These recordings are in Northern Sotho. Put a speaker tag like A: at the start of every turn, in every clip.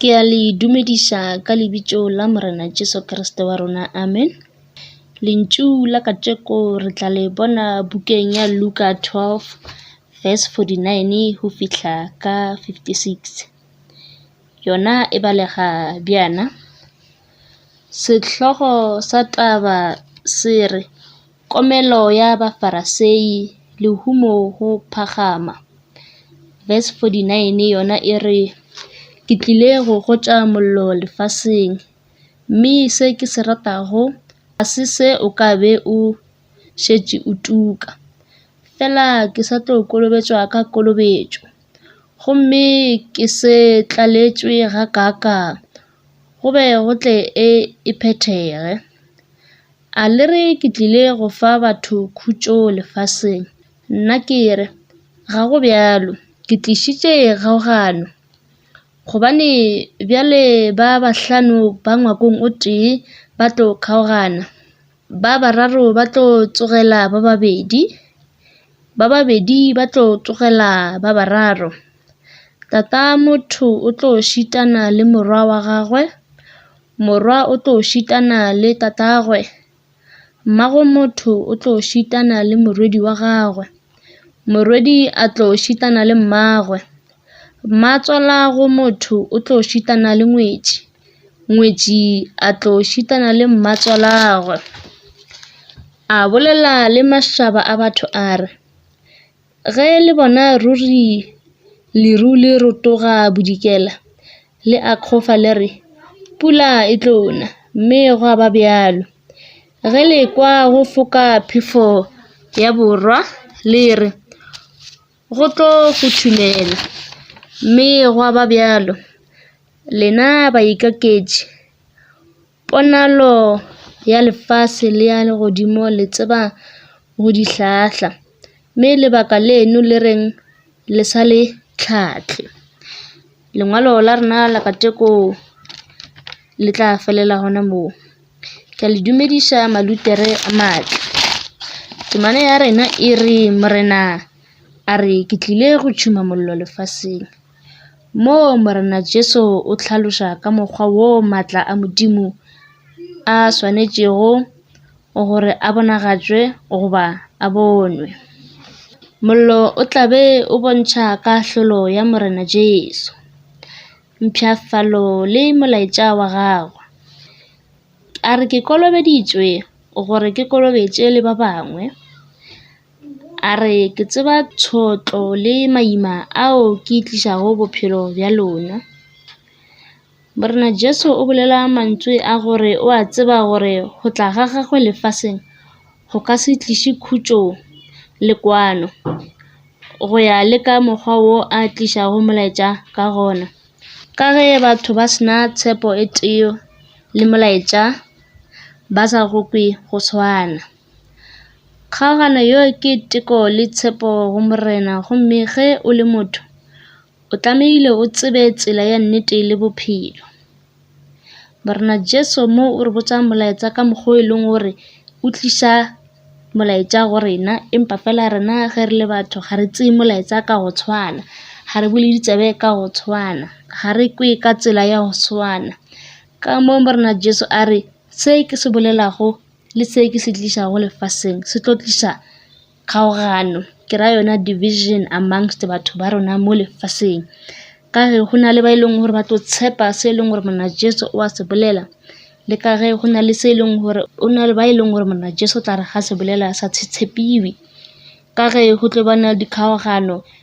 A: Ke a le dumediša ka lebitšo la Morena Jesu Kriste wa rona, amen. Lentšu la kajeko re tla le bona bukeng ya Luka 12 verse 49 go fihla ka 56. Yona e balega bjana. Sehlogo sa taba se re Komelo ya Bafarasei, Lehumo go phagama. Verse 49 yona e re, Ke tlile go gotša mollo lefaseng, mme se ke se ratago ga se se o ka be o šetše o tuka. Fela ke sa tlo kolobetšwa ka kolobetšo, gomme ke se tlaletšwe gakaakang, go be go tle e phethege. A le re ke tlile go fa batho khutšo lefaseng? Nna ke re, Ga go bjalo. Ke tlišitše kgaogano, gobane bjale ba bahlano ba ngwakong o tee ba tlo kgaogana, ba bararo ba tlo tsogela ba babedi, ba babedi ba tlo tsogela ba bararo. Tata motho o tlo šitana le morwa wa gagwe, morwa o tlo šitana le tatagwe, mmago motho o tlo šitana le morwedi wa gagwe, morwedi a tlo šitana le mmagwe, mmatswala go motho o tlo šitana le ngwetši, ngwetši a tlo šitana le mmatswalagwe. A bolela le mašaba a batho a re, Ge le bona ruri leru le rotoga bodikela, le akgofa le re, Pula e tlo na! Mme gwa ba bjalo. Ge le ekwa go foka phefo ya borwa, le re, Go tlo futhumela! Mme gwa ba bjalo. Lena baikaketši! Ponalo ya lefase le ya legodimo le tseba go di hlahla, mme lebaka leno le reng le sa le hlahle? Lengwalo la rena la kajeko le tla felela gona moo. Ke a le dumedisa malutere a matle. Temana ya rena e re, Morena a re ke tlile go tšhuma mollo lefaseng. Moo Morena Jesu o hlaloša ka mokgwa woo matla a Modimo a swanetšego gore a bonagatšwe goba a bonwe. Mollo o tla be o bontšha kahlolo ya Morena Jesu, mpshafatšo le molaetša wa gagwe. A re ke kolobeditšwe gore ke kolobetše le ba bangwe. A re, Ke tseba tšhotlo le maima ao ke tlišago bophelo bja lona. Morena Jesu o bolela mantsoe a gore o a tseba gore go tla ga gagwe lefaseng go ka se tliše khutšo le kwano, go ya le ka mokgwa wo a tlišago molaetša ka gona. Ka ge batho ba se na tshepo e tee le molaetša, ba sa go kwe go swana. Kgaogano yo ke teko le tshepo go Morena gomme ge o le motho, o tlamehile o tsebe tsela ya nnete le bophelo. Morena Jesu mo o re botsa molaetsa ka mokgwa o e leng gore o tlisa molaetsa go rena, empa fela rena ge re le batho ga re tseye molaetsa ka go tshwana, ga re bone ditaba ka go tshwana, ga re kwe ka tsela ya go tshwana. Ka mo Morena Jesu a re se ke se bolelago. le se ke se tlišago lefaseng se tlo tliša kgaogano ke ra yona division amongst batho ba rona mo lefaseng. Ka ge go na le ba e leng gore ba tlo tshepa se e leng gore monna Jesu o a se bolela le ka ge go na le se e leng gore o na le ba e leng gore monna Jesu o tla re ga se bolela sa se tshepiwe ka ge go tlo ba na le dikgaogano.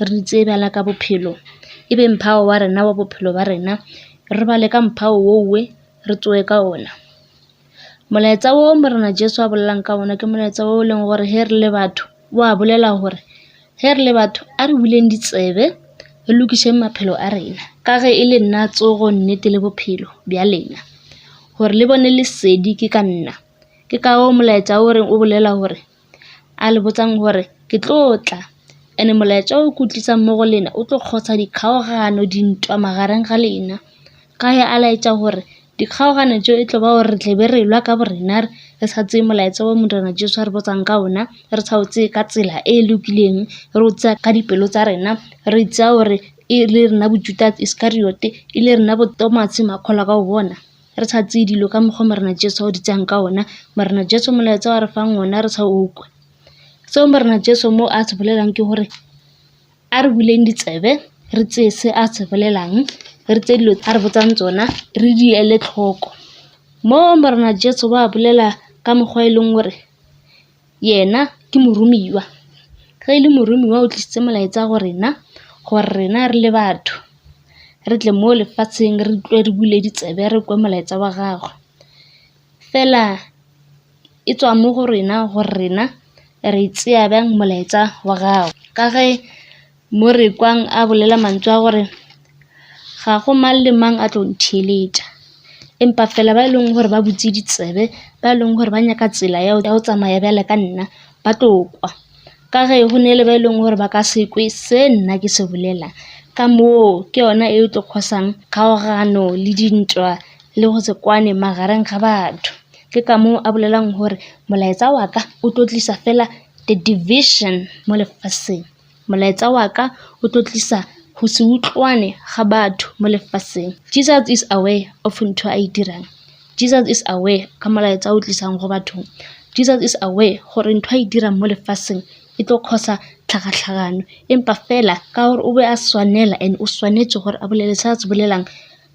A: re di tseye bjala ka bophelo e be mphao wa rena wa bophelo ba rena re robale ka mphao wo we re tsoe ka ona molaetsa wo morena jesu a bolelang ka ona ke molaetsa wo e leng gore he re le batho wa bolela gore he re le batho a re buleng ditsebe re lokišeng maphelo a rena ka ge e le nna tsogo nnete le bophelo bja lena gore le bone lesedi ke ka nna ke ka o molaetsa o reng o bolela gore a le botsang gore ke tlo tla and molaetša o ke o tlisang mo go lena o tlo kgosa dikgaogano dintwa magareng ga lena ka ge a laetša gore dikgaogano tšeo e tlo ba gore re tle be re lwa ka bo rena re re sa tseye molaetša wo morena jesu a re botsang ka ona re sa o tseye ka tsela e lokileng re o tsaya ka dipelo tsa rena re tsaya gore e le rena bo-judas iscariot e le rena bo-thomas makgolwa ka go bona re sa tseye dilo ka mokgwa Morena Jesu a o di tseyang ka ona. Morena Jesu molaetsa wa re fang ona re sa o kwe. Seo Morena Jesu mo a se bolelang ke gore a re buleng ditsebe re tseye se a se bolelang, re tseye dilo a re botsang tsona re di ele tlhoko. Mo Morena Jesu wa bolela ka mokgwa e leng gore Yena ke moromiwa. Ge e le moromiwa o tlisitse molaetsa go rena gore rena re le batho re tle mo lefatsheng re tle re bule ditsebe re kwe molaetsa wa gagwe. Fela e tswa mo go rena gore rena re tseya byang molaetsa wa gagwe ka ge. Mo re kwang a bolela mantšu a gore, Ga go mang le mang a tlo ntheeletša. Empa feela ba e leng gore ba butse ditsebe, ba e leng gore ba nyaka tsela ya go tsamaya bjalo ka nna, ba tlo kwa. Ka ge go na le ba e leng gore ba ka se kwe se nna ke se bolelang. Ka moo ke yona e tlo cause-ang kgaogano le dintwa le go se kwane magareng ga batho. Ke ka moo a bolelang gore molaetsa wa ka o tlo tlisa feela the division mo lefaseng. Molaetsa wa ka o tlo tlisa go se utlwane ga batho mo lefaseng. Jesus is aware of ntho a e dirang. Jesus is aware ka molaetsa o tlisang go bathong. Jesus is aware gore ntho a e dirang mo lefaseng e tlo cause-a tlhakatlhakano empa fela ka gore o be a swanela and o swanetse gore a bolele se a se bolelang.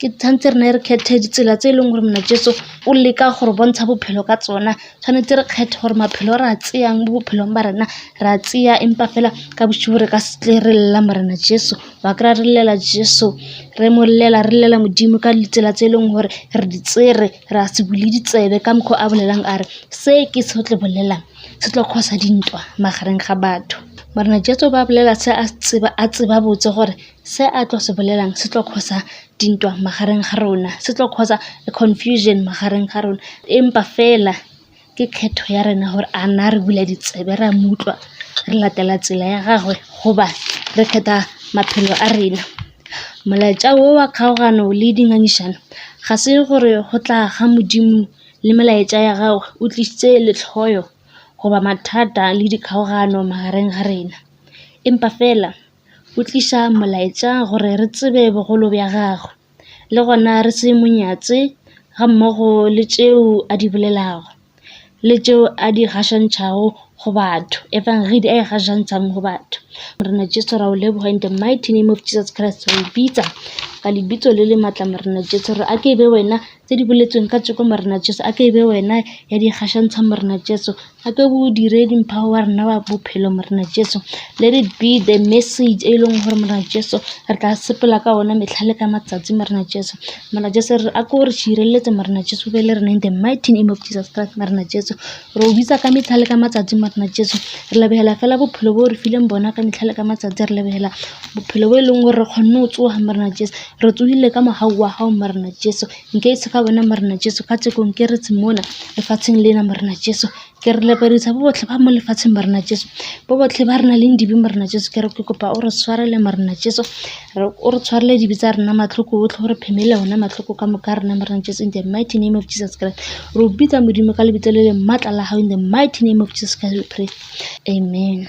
A: Ke tshwanetse re ne re kgethe ditsela tse e leng gore monna jeso o leka go re bontsha bophelo ka tsona, tshwanetse re kgethe gore maphelo a re a tseyang mo bophelong ba rena re a tseya empa fela ka bošego re ka se tle re lela morena jeso. Wa kry-a re llela jeso re mo llela re llela modimo ka ditsela tse e leng gore re di tsere re a se bule ditsebe ka mokgo a bolelang a re se ke se tlo bolelang se tlo cause-a dintwa magareng ga batho. Morena jeso ba bolela se a tseba botse gore Se a tlo se bolelang se tlo causer dintwa magareng ga rona, se tlo causer confusion magareng ga rona. Empa fela ke kgetho ya rena gore a na re bula ditsebe ra mo utlwa, re latela tsela ya gagwe goba re kgetha maphelo a rena. Molaetša wo wa kgaogano le dingangišano ga se gore go tla ga Modimo le melaetša ya gagwe o tlišitše lehloyo goba mathata le dikgaogano magareng ga rena. Empa fela. O tliša molaetša gore re tsebe bogolo bja gagwe, le gona re se mo nyatše gammogo le tšeo a di bolelago le tšeo a di gašantšhago go batho, Evangedi a e gašantšhang go batho. Morena Jesu ra o leboga in the mighty name of Jesus Christ re o bitsa ka lebitso le le matla Morena Jesu gore a ke e be wena tse di boletsweng kajeko Morena Jesu a ke e be wena ya di gašantšha Morena Jesu. Gape bodiredi mphago wa rena wa bophelo Morena Jesu. Let it be the message e leng gore Morena Jesu re tla sepela ka ona metlha le ka matsatsi Morena Jesu. Morena Jesu re a ko re šireletse Morena Jesu be le rena in the mighty name of Jesus Christ Morena Jesu. Re o bitsa ka metlha le ka matsatsi Morena Jesu. Re lebegela fela bophelo bo re fileng bona ka metlha le ka matsatsi re lebegela bophelo bo e leng gore re kgonne go tsoga Morena Jesu. Re tsogile ka mogau wa gago Morena Jesu. Nke ise ka wena Morena Jesu ka tseko nke re mona lefatsheng lena Morena Jesu. Ke re lepadisa bo botle ba mo lefatsheng Morena Jesu. Bo botle ba re nang le dibe Morena Jesu ke re ke kopa o re tshwarele Morena Jesu. Re o re tshwarele dibe tsa rena matlhoko otlhe o re phemele ona matlhoko ka moka a rena Morena Jesu in the mighty name of Jesus Christ. Re o bitsa Modimo ka lebitso le leng matla la hao in the mighty name of Jesus Christ we pray. Amen.